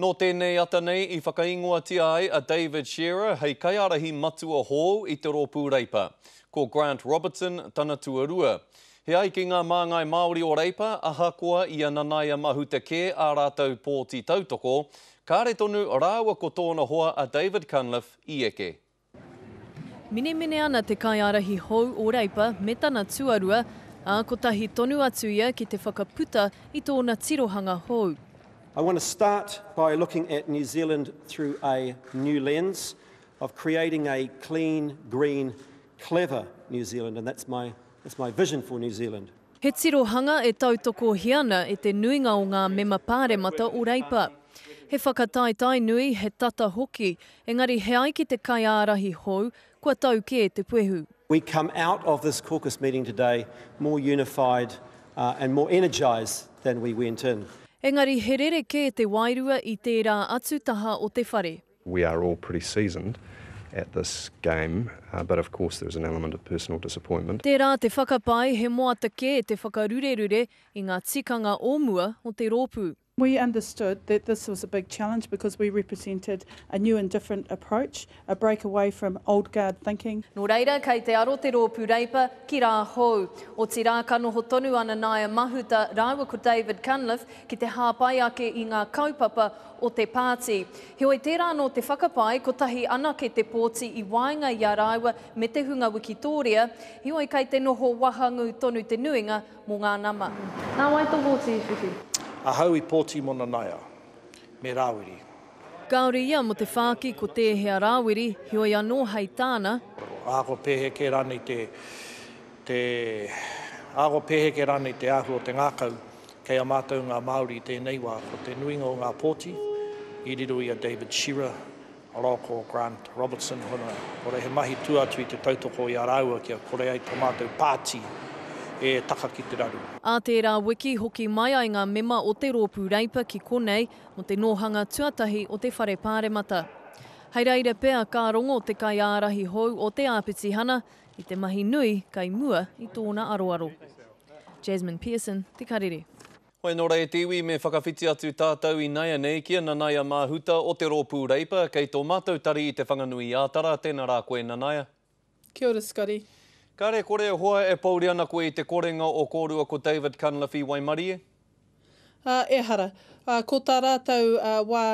Nō tēnei ata nei i whakaingoatia ai a David Shearer hei kaiārahi matua hou i te rōpū Reipa. Ko Grant Robertson tana tuarua. He ai ki ngā māngai Māori o Reipa, ahakoa i a Nanaia Mahuta kē ā rātou pōti tautoko, kāre tonu rāua ko tōna hoa a David Cunliffe i eke. Minemine ana te kaiārahi hou o Reipa me tana tuarua, ā, kotahi tonu atu ia ki te whakaputa i tōna tirohanga hou. I want to start by looking at New Zealand through a new lens of creating a clean, green, clever New Zealand and that's my vision for New Zealand. He tirohanga e tautokohia ana e te nuinga o ngā Mema Pāremata o Reipa. He whakataetae nui, he tata hoki, engari he ai ki te kaiārahi hou, kua tau kē te puehu. We come out of this caucus meeting today more unified and more energised than we went in. Engari he rerekē te wairua i tērā atu taha o te whare. We are all pretty seasoned at this game, but of course there is an element of personal disappointment. Tērā te whakapae he moata kē te whakarurerure i ngā tikanga o mua o te rōpū. We understood that this was a big challenge because we represented a new and different approach, a break away from old guard thinking. Nō reira, kei te aro te rōpū Reipa ki rā hou. Otirā, ka noho tonu a Nanaia Mahuta rāua ko David Cunliffe ki te hāpai ake i ngā kaupapa o te pāti. Heoi tērā anō te whakapae, kotahi anake te pōti i waenga i a rāua me te hunga wikitōria, heoi kei te noho wahangū tonu te nuinga mō ngā nama. Nā wai tō pōti i whiwhi? Ahau i pōti mō Nanaia me Rāwiri. Kāore ia mō te whāki ko tēhea Rāwiri, heoi anō hei tāna. Aha ko pēheke rānei te, te, aha ko pēheke rānei te āhua o te ngākau? Kei a mātou ngā Māori i tēnei wā, ko te nuinga o ngā pōti, i riro i a David Shearer, Roko, Grant, Robertson, Huna, kua rere he mahi tua atu i te tautoko i a rāua kia kore ai tō mātou pāti e taka ki te raru. Ā tērā wiki, hoki mai ai ngā mema o te Rōpū Reipa ki konei mō te nōhanga tuatahi o te Whare Pāremata. Hei reire pea, ka rongo te kaiārahi hou o te āpitihana i te mahi nui kai mua i tōna aroaro. Jasmine Pearson, Te Karere. Hoi nō rā e te iwi me whakawhiti atu tātou i naianei ki a Nanaia Māhuta o te Rōpū Reipa kei tō mātou tari i Te Whanganui Ātara, tēnā rā koe Nanaia. Kia ora Scotty. Kare kore e hoa e pouri ana koe i te korenga o korua ko David Cunliffe waimarie? Ā, ehara, ā, ko tā rātou wā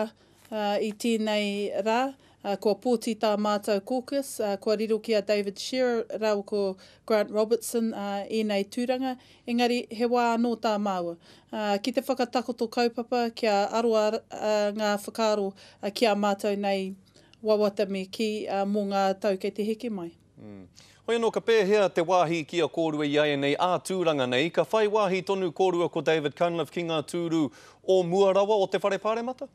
i tēnei rā, ā, kua pōti tā mātou caucus, ā, kua riro ki a David Shearer rāua ko Grant Robertson, ā, ēnei tūranga, engari he wā anō tā māua, ā, ki te whakatakoto kaupapa kia aro a, ā, ngā whakaaro ki a mātou nei wawata me kī, ā, mō ngā tau kei te heke mai. Hoi anō ka pēhea te wāhi ki a kōrua i ēnei ā-tūranga nei? Ka whai wāhi tonu kōrua ko David Cunliffe ki ngā tūru o mua rawa o te Whare Pāremata?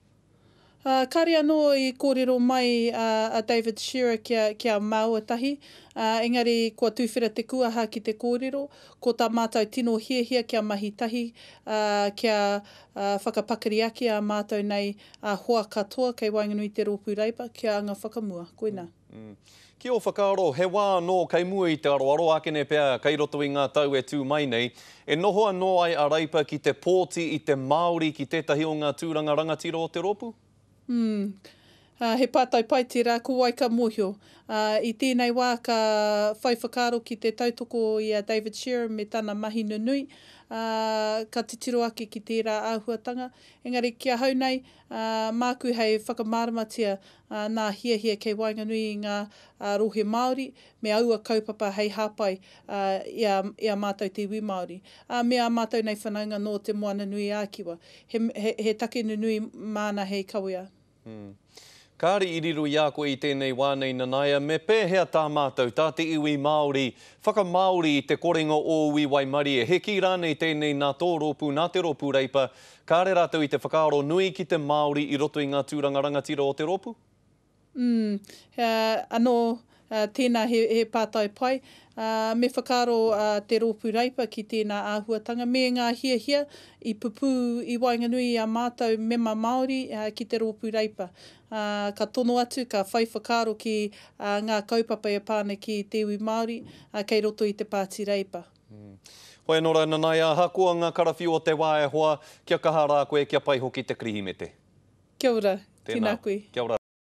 Kāre anō i kōrero mai a David Shearer ki a Māuatahi, engari kua tūwhera te kuaha ki te kōrero, ko tā mātou tino hiahia kia mahi tahi, kia whakapakari ake ā mātou nei hoa katoa kei waenganui i te rōpū Labour ki a Anga Whakamua. Koinā. Ki ō whakaaro, he wā anō kei mua i te aroaro, ākene pea kei roto i ngā tau e tū mai nei, e noho anō ai a Reipa ki te pōti i te Māori ki tētahi o ngā tūranga rangatira o te rōpū? Umm. He pātai pai tērā, ko wai ka mōhio? Ā, i tēnei wā ka whai whakaaro ki te tautoko i a David Sherrin me tana mahi nunui, ā, ka titiro ake ki tērā āhuatanga. Engari ki ahau nei, ā, māku hei whakamāramatia ā, nā hiahia kei waenganui i ngā ā, rohe Māori me aua kaupapa hei hāpai ā, i a, i a mātou te iwi Māori, ā, me ā mātou nei whanaunga nō Te Moana-nui-ā-Kiwa. He, he, he take nunui māna hei kawea. Hm. Kāre i riro i a koe i tēnei wā nei Nanaia, me pēhea tā mātou, tā te iwi Māori, whakamāori i te korenga ōu i waimarie, he kī rānei tēnei nā tō rōpū, nā te rōpū Reipa, Kāre rātou i te whakaaro nui ki te Māori i roto i ngā tūranga rangatira o te rōpū? Umm, anō, tēnā he pātai pai. Me whakaaro te rōpū Reipa ki tēnā āhuatanga me ngā hiahia i pupū i waenganui i a mātou mema Māori ki te rōpū Reipa. Ka tono atu, ka whai whakaaro ki ngā kaupapa e pā ana ki te iwi Māori kei roto i te Pāti Reipa. Hoi anō rā, nanaia, ahakoa ngā karawhiu o te wā e hoa, kia kaha rā koe, kia pai hoki te Kirihimete. Kia ora, tēnā koe. Kia ora.